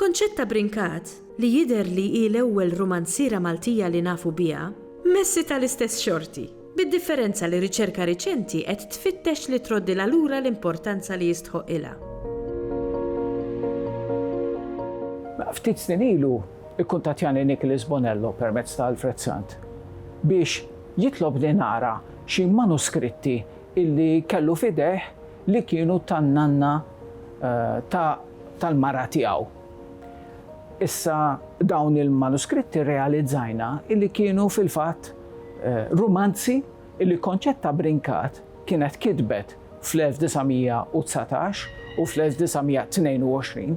Concetta Brincat, li jidher li hi l-ewwel rumanziera Maltija li nafu biha, messi tal-istess xorti, bid-differenza li riċerka riċenti qed tfittex li troddilha lura l-importanza li jistħoqqilha. Ftit snin ilu kkuntattjani Nicholas Bonello permezz ta' Alfred Sant biex jitlobni nara xi manuskritti li kellu f'idejh li kienu tan-nanna ta' tal-mara tiegħu. Issa dawn il-manuskritti rrealizzajna illi kienu fil-fatt rumanzi illi Concetta Brincat kienet kitbet fl-1919 u fl-1922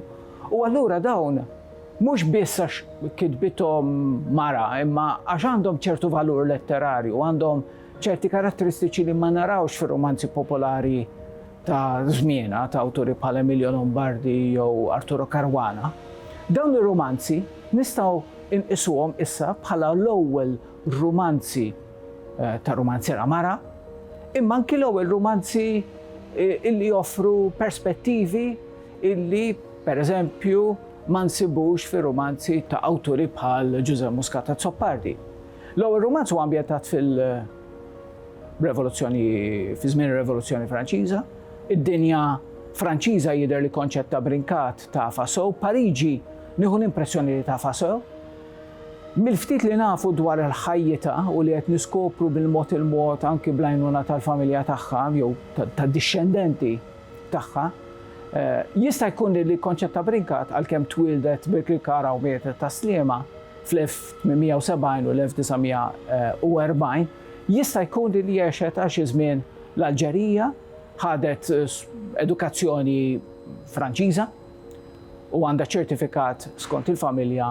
u allura dawn mhux biss għax kitbithom mara imma għax għandhom ċertu valur letterarju, għandhom Ċerti karatteristiċi li ma narawx fir-rumanzi popolari ta' żmienha ta' awturi bħal Emilio Lombardi jew Arturo Caruana. Dawn ir-rumanzi nistgħu nqisuhom issa bħala l-ewwel rumanzi ta' rumanziera mara, imma anki l-ewwel rumanzi illi joffru perspettivi illi, pereżempju, ma nsibux fir-rumanzi ta' awturi bħal Ġużè Muscat Azzopardi. L-ewwel rumanz huwa ambjentat fil- revoluzzjoni fi żmien ir-Revoluzzjoni Franċiża. Id-dinja Franċiża jidher li konċett ta' brinkat ta' faso, Pariġi nieħu l-impressjoni li ta' faso. Mill-ftit li nafu dwar il-ħajjita u li qed niskopru bil-mod il-mod anki blajnuna tal-familja tagħha jew tad-dixxendenti tagħha, eh, jista' jkun li konċetta brinkat għalkemm twildet bil-klikara u mietet ta' sliema, fl-1870 u l-1940, jista' jkun li għexet għal xi żmien l-Alġerija, ħadet edukazzjoni Franċiża u għandha ċertifikat skont il-familja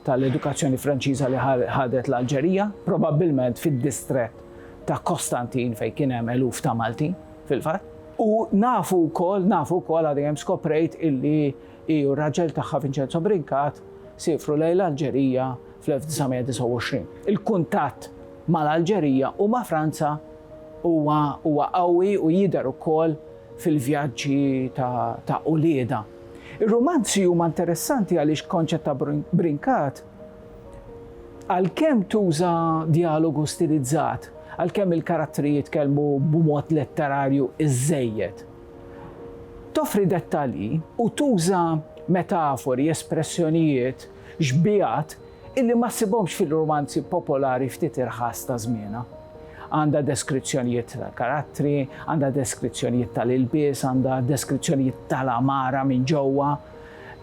tal-edukazzjoni Franċiża li ħadet l-Alġerija, probabbilment fid-distrett ta' Kostantin fejn kien hemm eluf ta' Maltin fil-fatt. U nafu wkoll, nafu wkoll għad dejjem skoprejt illi Hi u r-raġel tagħha Vincenzo Brincat siefru lejn l-Alġerija fl-1929. Il-kuntatt mal-Alġerija u ma' Franza huwa huwa qawwi u jidher ukoll fil-vjaġġi ta' ta' uliedha. Ir-rumanzi huma interessanti għaliex Concetta Brincat għalkemm tuża djalogu stilizzat, għalkemm il-karattri jitkellmu b'mod letterarju iżżejjed, Toffri dettalji u tuża metafori, espressjonijiet, xbigħat illi ma ssibhomx fil-rumanzi popolari ftit irħas ta' żmienha. Għandha deskrizzjonijiet tal-karattri, għandha deskrizzjonijiet tal-ilbies, għandha deskrizzjonijiet tal-għamara minn ġewwa.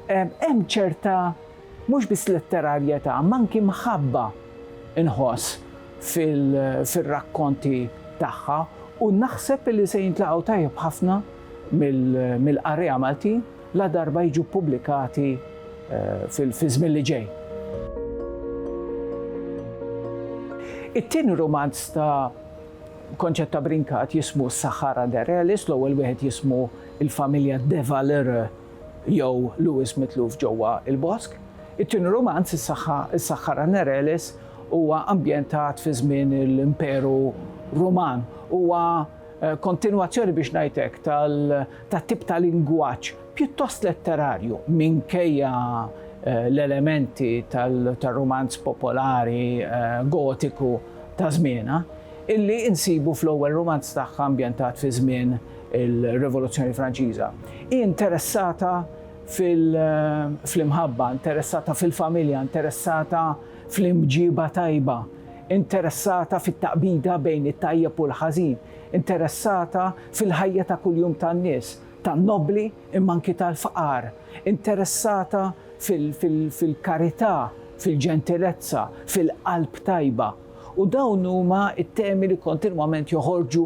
Hemm ċerta Mhux biss letterarjetà, imma anki mħabba nħoss fir-rakkonti tagħha u naħseb li se jintlaqgħu tajjeb ħafna mill-qarrejja Maltin ladarba jiġu ppubblikati fiż-żmien li ġej. It-tieni rumanz ta' Concetta Brincat jismu Sahara de Relis, l-ewwel wieħed jismu Il-Familja de Valere. jew Lewis mitluf ġewwa l-bosk. It-tieni rumanz, Is-Saħħara Nereles, huwa ambjentat fi żmien l-Imperu Ruman. Huwa kontinwazzjoni, biex ngħid hekk, tat-tip ta' lingwaġġ pjuttost letterarju, minkejja l-elementi tar-rumanz popolari Gotiku ta' żmienha, illi nsibu fl-ewwel rumanz tagħha ambjentat fi żmien il-Rivoluzzjoni Franċiża. Hi interessata fl-imħabba, interessata fil-familja, interessata fl-imġieba tajba, interessata fit-taqbida bejn it-tajjeb u l-ħażin, interessata fil-ħajja ta' kuljum tan-nies, tan-nobbli imma anki tal-fqar, interessata fil-karità, fil-ġentilezza, fil-qalb tajba. U dawn huma t-temi li kontinwament joħorġu